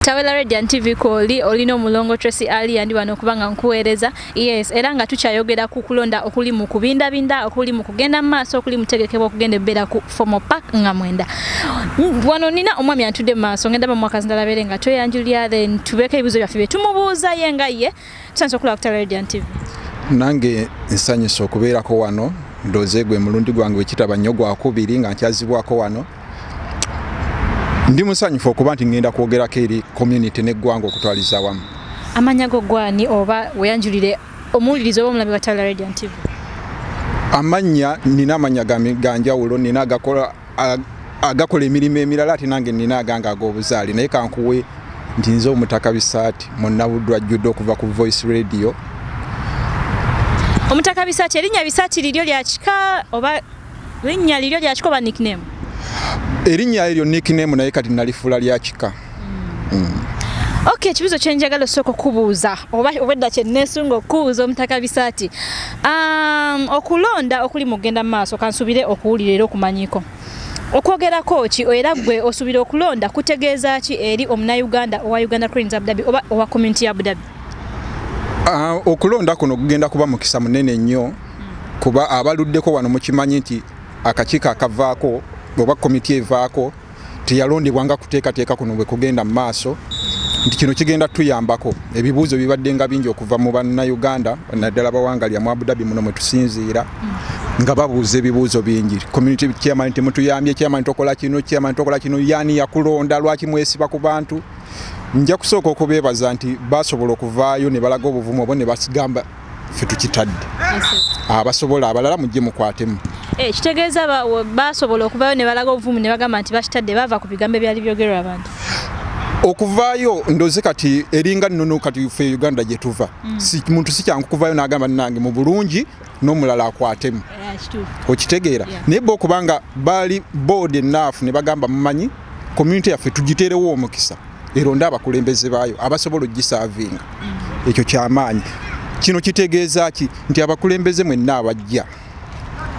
Tawela Radiant TV kwoli olina omulongo Tracy Ali yandi wano kuba nga nkuweereza yes era nga tukyayogera ku kulonda okuli mu kubindabinda okuli mu kugenda mu maaso okuli mutegekebwa okugenda ebbeera ku formal park nga mwenda wano nina omwami atudde mu maaso ngenda bamwakazi ndala beere nga tweyanjulira then tubeeko ebibuzo byaffe bye tumubuuza ye nga ye Tusanze okulaba ku Radiant TV. Nange nsanyusa okubeerako wano ndoze gwe mulundi gwange wekitaba nnyo gwakubiri nga nkyazibwako wano ndi musanyufu okuba nti ngenda kwogerako eri community neggwanga okutwaliza wamu amanya go gwani oba weyanjulire omuwuliriza oba omulabi watala radiant tv amannya nina amanya ganjawulo nina agakola agakola emirimu emirala ate nange nina aganga ag'obuzaale naye kankuwe nti nze omutaka bisaati munnabuddwa jjudde okuva ku voice radio omutaka bisaati erinnya bisaati liryo lyakika oba linnya liryo lyakika oba nickname erinnya eryo nickname naye kati nalifuula lyakika Okay, ekibuzo kyenjagala osooka okubuuza oba obwedda kyenneesunga okukubuuza omutaka bisaati um, okulonda okuli mu kugenda mu maaso kansubire okuwulira era okumanyiko okwogerako ki era gwe osuubira okulonda kutegeeza ki eri omunauganda owa uganda cranes abudabi oba owa community ya abudabi ah, okulonda kuno kugenda kuba mukisa munene nnyo kuba abaluddeko wano mukimanyi nti akakiiko akavaako oba komiti evaako teyalondebwa nga kuteekateeka kuno bwe kugenda mu maaso nti kino kigenda tuyambako ebibuuzo bibadde nga bingi okuva mu bannayuganda naddala bawangalya mu abudabi muno mwe tusinziira nga babuuza ebibuuzo bingi community chairman temutuyambye chairman tokola kino chairman tokola kino yani yakulonda lwaki mwesiba ku bantu nja kusooka okubeebaza nti basobola okuvaayo ne balaga obuvumu obo ne basigamba ffe tukitadde abasobola abalala mujje mukwatemu eh, kitegeeza basobola okuvayo ne balaga obuvumu ne bagamba nti bakitadde baava ku bigambo ebyali byogerwa abantu okuvaayo ndoze kati eringa nono kati fe uganda gyetuva mm. si, muntu sikyangu kuvayo nagamba nange mu bulungi n'omulala akwatemu yeah, okitegeera yeah. naye bo okubanga baali board enaafu ne bagamba mumanyi community yaffe tugiteerewo omukisa eronde abakulembeze baayo abasobola ogisaavinga ekyo kyamaanyi kino kitegeeza ki nti abakulembeze mwenna abajja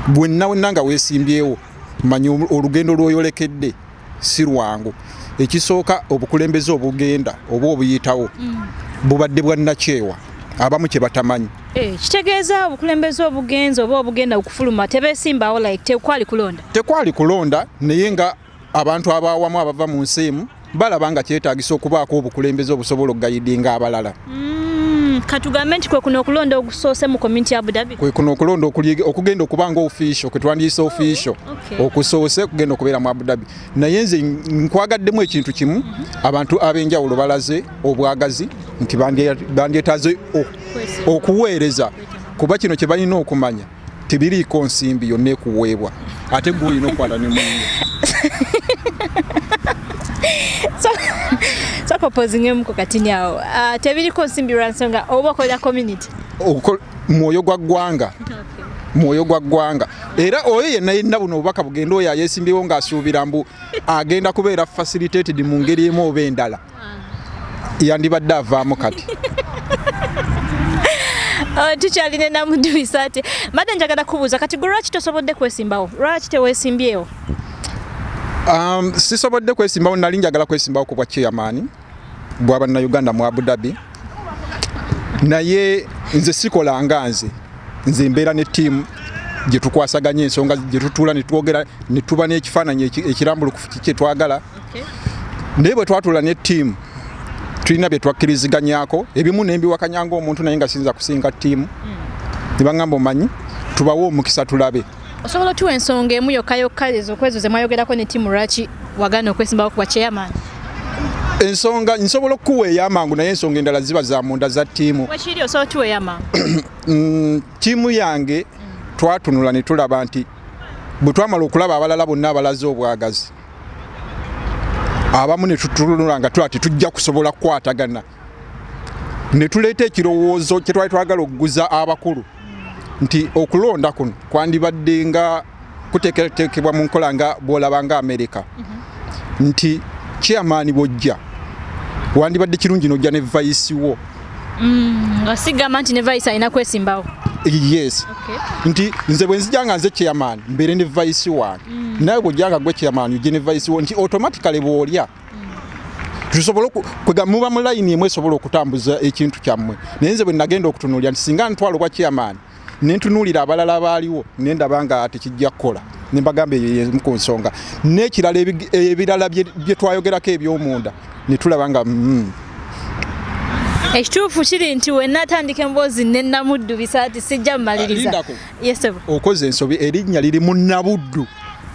bwenna wenna nga weesimbyewo manya olugendo lwoyolekedde si lwangu ekisooka obukulembeze obugenda oba obuyitawo mm. bubadde bwannakyewa abamu kye batamanyi eh, kitegeeza obukulembeze obugenzi oba obugenda okufuluma tebesimbawo like tekwali kulonda tekwali kulonda naye nga abantu abaawamu abava mu nsi emu balaba nga kyetaagisa okubaako obukulembeze obusobola okugayidinga abalala mm, katugambe nti kwe kuno okulonda ogusoose mu community ya abudabi kwe kuno okulonda okugenda okuba nga official kwe twandiyise oh, official okusoose kugenda okubeera mu abudabi naye nze nkwagaddemu ekintu kimu mhm. abantu ab'enjawulo balaze obwagazi nti bandyetaaze okuweereza kuba kino kye balina okumanya tebiriiko nsimbi yonna ekuweebwa ate gwe olina okukwata ne munne sokopozingemuko katini awo uh, tebiriko nsimbi lwa nsonga oba okolera community mwoyo gwa ggwanga mwoyo gwa ggwanga era oyo yenna yenna buno obubaka bugenda oyo ayesimbyewo ng'asuubira mbu agenda kubeera facilitated mu ngeri emu oba endala yandibadde avaamu kati oh, tukyali ne namuduisa ati mbadde njagala kubuuza kati gwe lwaki tosobodde kwesimbawo lwaki tewesimbyewo um, sisobodde kwesimbawo nali njagala kwesimbawo ku bwa chairman bwa bannayuganda mu abu dhabi naye nze sikola nga nze nze mbeera ne tiimu gye tukwasaganya ensonga gye tutuula ne twogera ne tuba n'ekifaananyi ekirambulukufu kiki kyetwagala naye bwe twatula ne ttiimu tulina bye twakkiriziganyaako ebimu ne mbiwakanya ng'omuntu naye nga siyinza kusinga ttiimu hmm. ne baŋŋamba omanyi tubawe omukisa tulabe osobola otuwa ensonga emu yokka yokka ezokwezo ze mwayogerako ne ttiimu lwaki wagana okwesimbawo kuba kyeyamaanyi ensonga nsobola okukuwa eyamangu naye ensonga endala ziba za munda za ttiimu mm, ttiimu yange twatunula ne tulaba nti bwe twamala okulaba abalala bonna abalaze obwagazi abamu ne tutunula nga tulaba tetujja kusobola kukwatagana ne tuleeta ekirowoozo kye twali twagala okuguza abakulu nti okulonda kuno kwandibadde nga kuteeketeekebwa mu nkola nga bw'olaba nga amerika mhm. nti chairman bw'ojja wandibadde kirungi n'ojja ne vayisi wo mm, nga sigamba nti ne vice alina kwesimbawo yes okay. nti nze bwe nzija nga nze chairman mbeere ne vice wange mm. nawe bwojja nga gwe chairman uje ne vice wo nti automatically bwolya tusobola kwega muba mu layini emu esobola okutambuza ekintu kyammwe naye nze bwe nagenda okutunuulira nti singa ntwala obwa chairman ne ntunuulira abalala abaaliwo ne ndaba nga tekijja kukola ne mbagamba eyo yemu ku nsonga n'ekirala ebirala bye twayogerako eby'omunda ne tulaba nga mm. ekituufu kiri nti wenna atandika emboozi ne namuddu bisaati sijja mumaliriza okoze ensobi erinnya liri mu nabuddu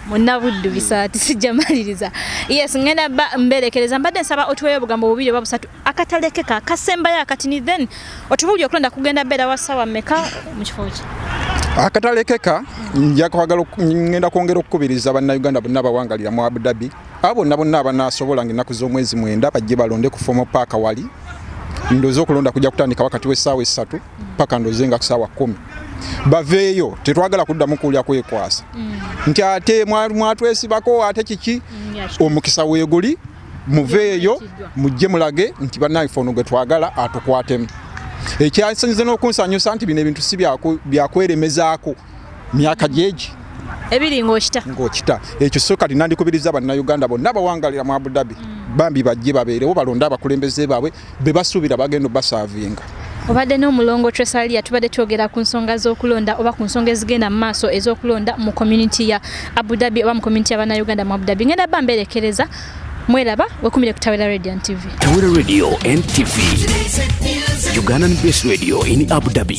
munabuddu bisaati sijja maliriza yes ngenda mberekereza mbadde nsaba otuweyo obugambo bubiri oba busatu akatalekeka akasembayo akati ni then otubulire okulonda kugenda beera wa ssaawa mmeka mu kifo kye akatalekeka nja kwagala ngenda kwongera okukubiriza bannayuganda bonna abawangalira mu abu dhabi abo bonna bonna abanaasobola nga ennaku z'omwezi mwenda bajje balonde ku fomo paaka wali ndoze okulonda kujja kutandika wakati w'essaawa essatu paka ndoze nga kusaawa kumi baveeyo tetwagala kuddamu kuwulira kwekwasa mm. nti ate mwatwesibako ate kiki mm, omukisa weeguli muveeyo mujje mulage nti bannange ono gwe twagala atukwatemu ekyasinze n'okunsanyusa nti bino ebintu si byakweremezaako myaka gyegi ebiri ng'okita ng'okita ekyo so kati nandikubiriza bannayuganda bonna bawangalira mu abudhabi mm. bambi bajje babeerewo balonde abakulembeze baabwe bebasuubira bagenda obasaavinga obadde n'omulongo tresalia tubadde twogera ku nsonga z'okulonda oba ku nsonga ezigenda mu maaso ez'okulonda mu community ya abu dhabi oba mu community yabanauganda mu abu dhabi ngenda ba mberekereza mweraba wekumire ku tawera radio and tv tawera radio and tv ugandan base radio in abu dhabi